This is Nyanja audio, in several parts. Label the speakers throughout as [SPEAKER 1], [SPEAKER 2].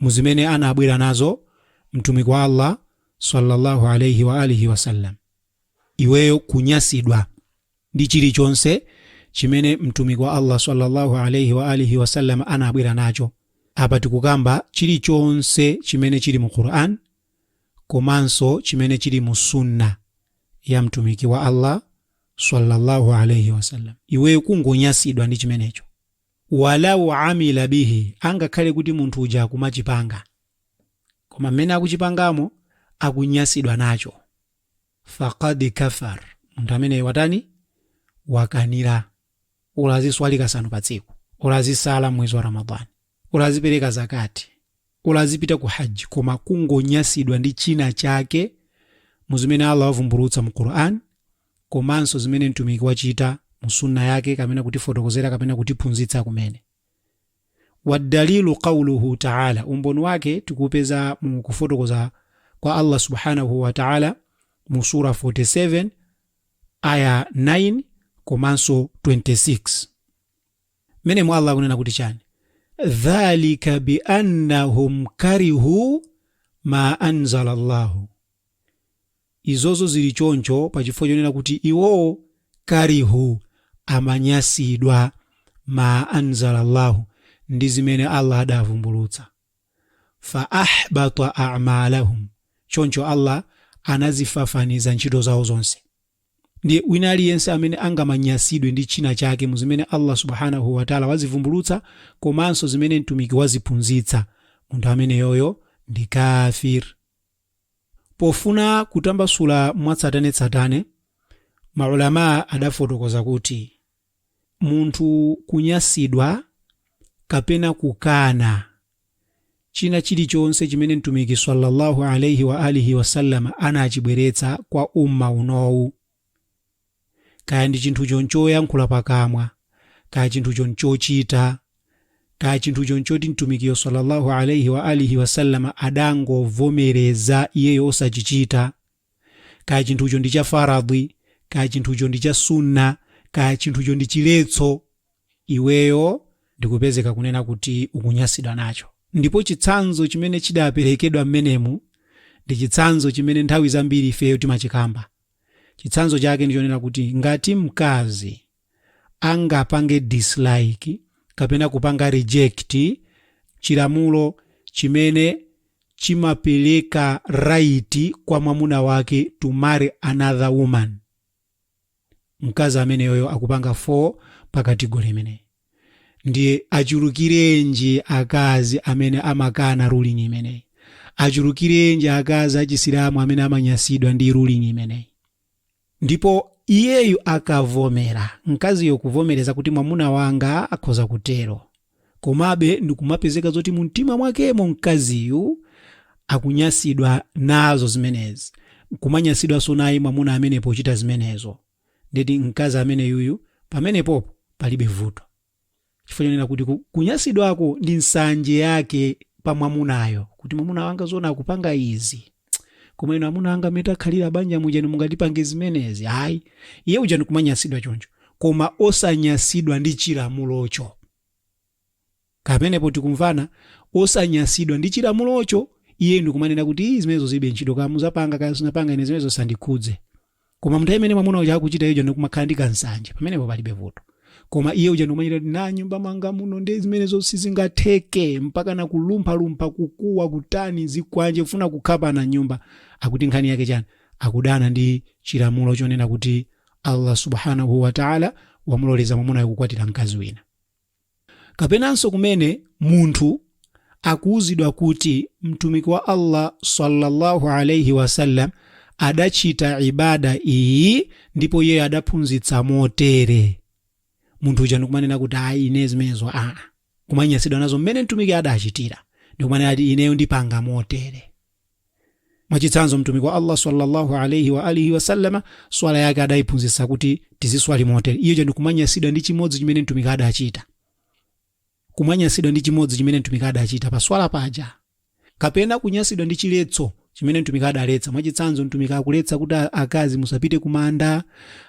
[SPEAKER 1] mu zimene anabwera nazo Mtumiki wa Allah swalla Allahu alaih wa alihi wasallam. Iweyo kunyasidwa ndi chilichonse chimene Mtumiki wa Allah swalla Allahu alaih wa alihi wasallam anabwera nacho. Apa tikukamba chilichonse chimene chili mu Quran komanso chimene chili mu sunna ya Mtumiki wa Allah swalla Allahu alaih wasallam. Iweyo kungonyasidwa ndi chimenecho. walaw amila bihi angakhale kuti munthu uja akumachipanga koma mmene akuchipangamo akunyasidwa nacho faqad kafar munthu ameneyo watani wakanira olo aziswali kasanu pa tsiku olo azisala mwezi wa ramadhani olo azipereka zakati olo azipita ku haji koma kungonyasidwa ndi china chake muzimene allah wavumbulutsa mu quran komanso zimene Mtumiki wachita mu Sunnah yake kapena kutifotokozera kapena kutiphunzitsa kumene. Waddalilu qawluhu ta'âlâ, umboni wake tikuupeza mu kufotokoza kwa Allah subhanahu wa ta'âlâ mu Surah 47, Ayah 9 komanso 26. Mmenemo Allah akunena kuti chani? Dhalika bi annahum karihu ma anzala Allahu. Izozo ziri choncho pa chifukwa chonena kuti iwowo karihu, amanyasidwa, maa anzalallahu, ndi zimene Allah adavumbulutsa. Fa ahbata a'malahum, choncho Allah anazifafaniza ntchito zawo zonse. Ndiye wina aliyense amene angamanyasidwe ndi china chake mu zimene Allah Subhaanahu wa Ta'la wazivumbulutsa komanso zimene Mtumiki waziphunzitsa, munthu ameneyoyo ndi kaafir. Pofuna kutambasula mwatsatanetsatane, ma ulamaa adafotokoza kuti, Munthu kunyasidwa kapena kukana china chilichonse chimene Mtumiki swalla Allahu alaih wa alihi wasallam anachibweretsa kwa Ummah unowu, kaya chinthucho nchoyankhula pakamwa kaya chinthucho nchochita kaya chinthucho nchoti mtumikiyo sallallahu alaihi wa alihi wasallama adangovomereza iyeyo osachichita kaya chinthucho ndi cha faradhi kaya chinthucho ndi cha sunna kaya chinthucho ndi chiletso iweyo ndikupezeka kunena kuti ukunyasidwa nacho ndipo chitsanzo chimene chidaperekedwa mmenemu ndi chitsanzo chimene nthawi zambiri ifeyo timachikamba chitsanzo chake ndichonena kuti ngati mkazi angapange dislike kapena kupanga reject chilamulo chimene chimapeleka right kwa mwamuna wake to marry another woman mkazi ameneyoyo akupanga fall pa category imeneyi ndiye achulukirenji akazi amene amakana ruling imeneyi achulukirenji akazi achisilamu amene amanyasidwa ndi ruling imeneyi ndipo iyeyu akavomera mkaziyo kuvomereza kuti mwamuna wanga akhoza kutero komabe ndikumapezeka zoti mu mtima mwakemo mkaziyu akunyasidwa nazo zimenezi kumanyasidwanso naye mwamuna amene pochita zimenezo ndeti mkazi ameneyuyu pamenepopo palibe vuto chifukwa chonena kuti ku- kunyasidwako ndi nsanje yake pa mwamunayo kuti mwamuna wanga zona akupanga izi koma inu amuna anga mene takhalira banja mujani mungatipange zimenezi ayi iye uja ndi kumanyasidwa choncho koma osanyasidwa ndi chilamulocho Pamenepo tikumvana osanyasidwa ndi chilamulocho iye ndikumanena kuti ii zimenezo zilibe ntchito kaya muzapanga kaya simupanga ine zimenezo zisandikhudze. Koma mnthawi imene mwamuna uja akuchita ija ndikumakhala ndi ka nsanje pamenepo palibe vuto. Koma iye uja ndikumachita kuti m'nyumba mwanga muno nde zimenezo sizingatheke mpakana kulumpha lumpha kukuwa kutani zikwanje kufuna kukhapana m'nyumba akuti nkhani yake chani akudana ndi chilamulo chonena kuti Allah Subhaanahuu Wataala wamuloleza mwamunayo kukwatira mkazi wina. Kapenanso kumene munthu akuuzidwa kuti Mtumiki wa Allah swalla Allahu alaih wasallam adachita ibaada iyi ndipo iyeyo adaphunzitsa motere. Munthu uja ndikumanena kuti ayi ine zimenezo aa. Kumanyasidwa nazo mmene Mtumiki adachitira ndikumanena kuti ineyo ndipanga motere. mwachitsanzo mtumiki wa allah sallallahu alaihi wa alihi wasallama swala yake adayiphunzitsa kuti tiziswali motere iyo chani kumanyasidwa ndi chimodzi chimene mtumiki adachita kumanyasidwa ndi chimodzi chimene mtumiki adachita pa swala paja kapena kunyasidwa ndi chiletso chimene mtumiki adaletsa mwachitsanzo mtumiki akuletsa kuti a- akazi musapite kumanda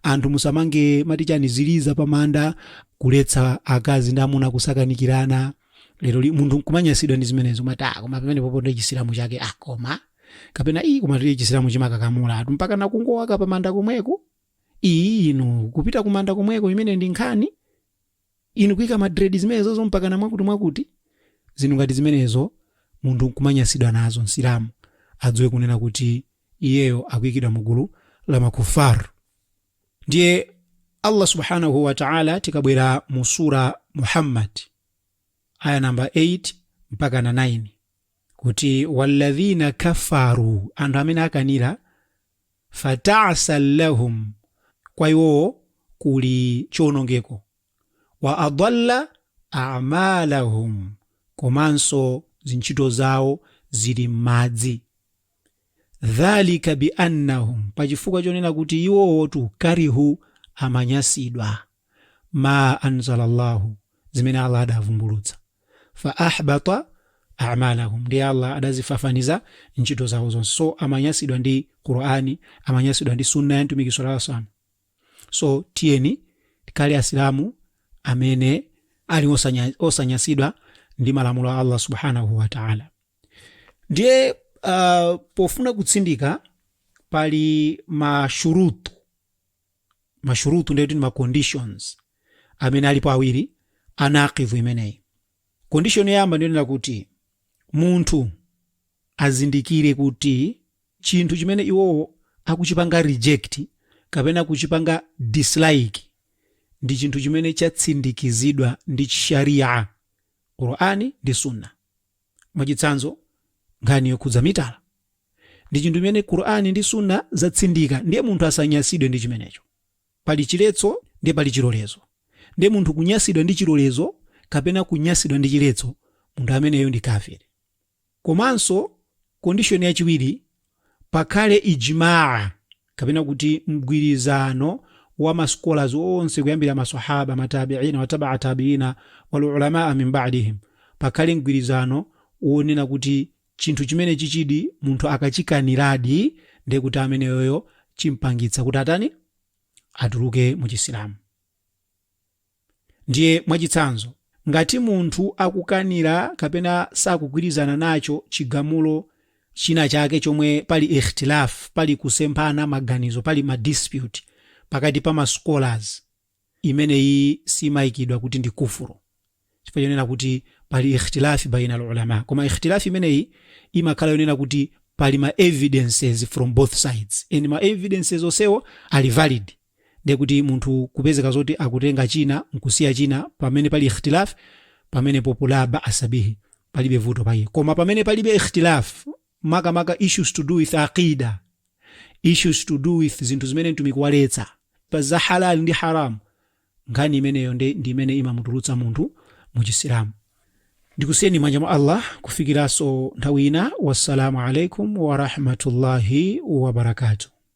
[SPEAKER 1] anthu musamange amati chani ziliza pamanda kuletsa akazi ndi amuna kusakanikirana leroli munthu nkumanyasidwa ndi zimenezo kumati ah koma pamenepopo ndi chisilamu chake ah koma kapena iyi koma tili chisilamu chimakakamiza anthu mpaka nakungowaika pamanda komweko iyi inu kupita kumanda komweko imene ndi nkhani inu kuika madredi zimenezozo mpaka na mwakuti mwakuti zinthu ngati zimenezo munthu nkumanyasidwa nazo msilamu adziwe kunena kuti iyeyo akuikidwa mu gulu la makufar ndiye allah subhanahu wataala tikabwera mu sura muhammad aya namba 8 mpaka na 9 kuti walladhina kafaru anthu amene akanira fatasan lahum kwa iwowo kuli chiwonongeko wa adalla amalahum komanso zintchito zawo zili m'madzi dhalika biannahum pachifukwa chonena kuti iwowotu karihu amanyasidwa ma anzala llahu zimene allah adavumbulutsa fa ahbata amalahum ndiye allah adazifafaniza ntchito zawo zonse so amanyasidwa ndi qurani amanyasidwa ndi sunna ya mtumiki sallallahu alaihi wasallam so tiyeni tikhale asilamu amene ali osanya- osanyasidwa ndi malamulo a allah subhanahu wataala ndiye uh, pofuna kutsindika pali mashurutu mashurutu ndiye kuti ndi maconditions amene alipo awiri a naqidhu imeneyi condition yoyamba ndiyonena kuti munthu azindikire kuti chinthu chimene iwowo akuchipanga reject kapena kuchipanga dislike ndi chinthu chimene chatsindikizidwa ndi sharia qurani ndi sunna mwachitsanzo nkhani yokhudza mitala ndi chinthu chimene qur'ani ndi sunna zatsindika ndiye munthu asanyasidwe ndi chimenecho pali chiletso ndiye pali chilolezo ndiye munthu kunyasidwa ndi chilolezo kapena kunyasidwa ndi chiletso munthu ameneyo ndi kafiri komanso kondishoni yachiwiri pakhale ijmaa kapena kuti mgwirizano wa ma scholars onse kuyambira ma Sahaba, ma Tabiina, wa tabaa Tabiina, wal ulamaa min ba'dihim, pakhale mgwirizano wonena kuti chinthu chimenechichidi munthu akachikaniradi ndiye kuti ameneyoyo chimpangitsa kuti atani? Atuluke mu Chisilamu. Ndiye mwachitsanzo, ngati munthu akukanira kapena sakugwirizana nacho chigamulo china chake chomwe pali ikhtilaf, pali kusemphana maganizo, pali ma dispute pakati pa ma scholars, imeneyi simaikidwa kuti ndi kufuru chifukwa chonena kuti pali ikhtilaf baina al ulama. Koma ikhtilaf imeneyi imakhala yonena kuti pali ma evidences from both sides and ma evidences onsewo ali valid. Ndiye kuti munthu kupezeka zoti akutenga china nkusiya china pamene pali ikhtilaf, pamenepopo la ba'asa bihi, palibe vuto pa iye. Koma pamene palibe ikhtilaf, makamaka issues to do with aqida, issues to do with zinthu zimene Mtumiki waletsa, pa za halal ndi haram, nkhani imeneyo nde ndi imene imamutulutsa munthu mu Chisilamu. Ndikusiyeni m'manja mwa Allah kufikiranso nthawi ina. Wassalamu alaikum warahmatullahi wabarakatuh.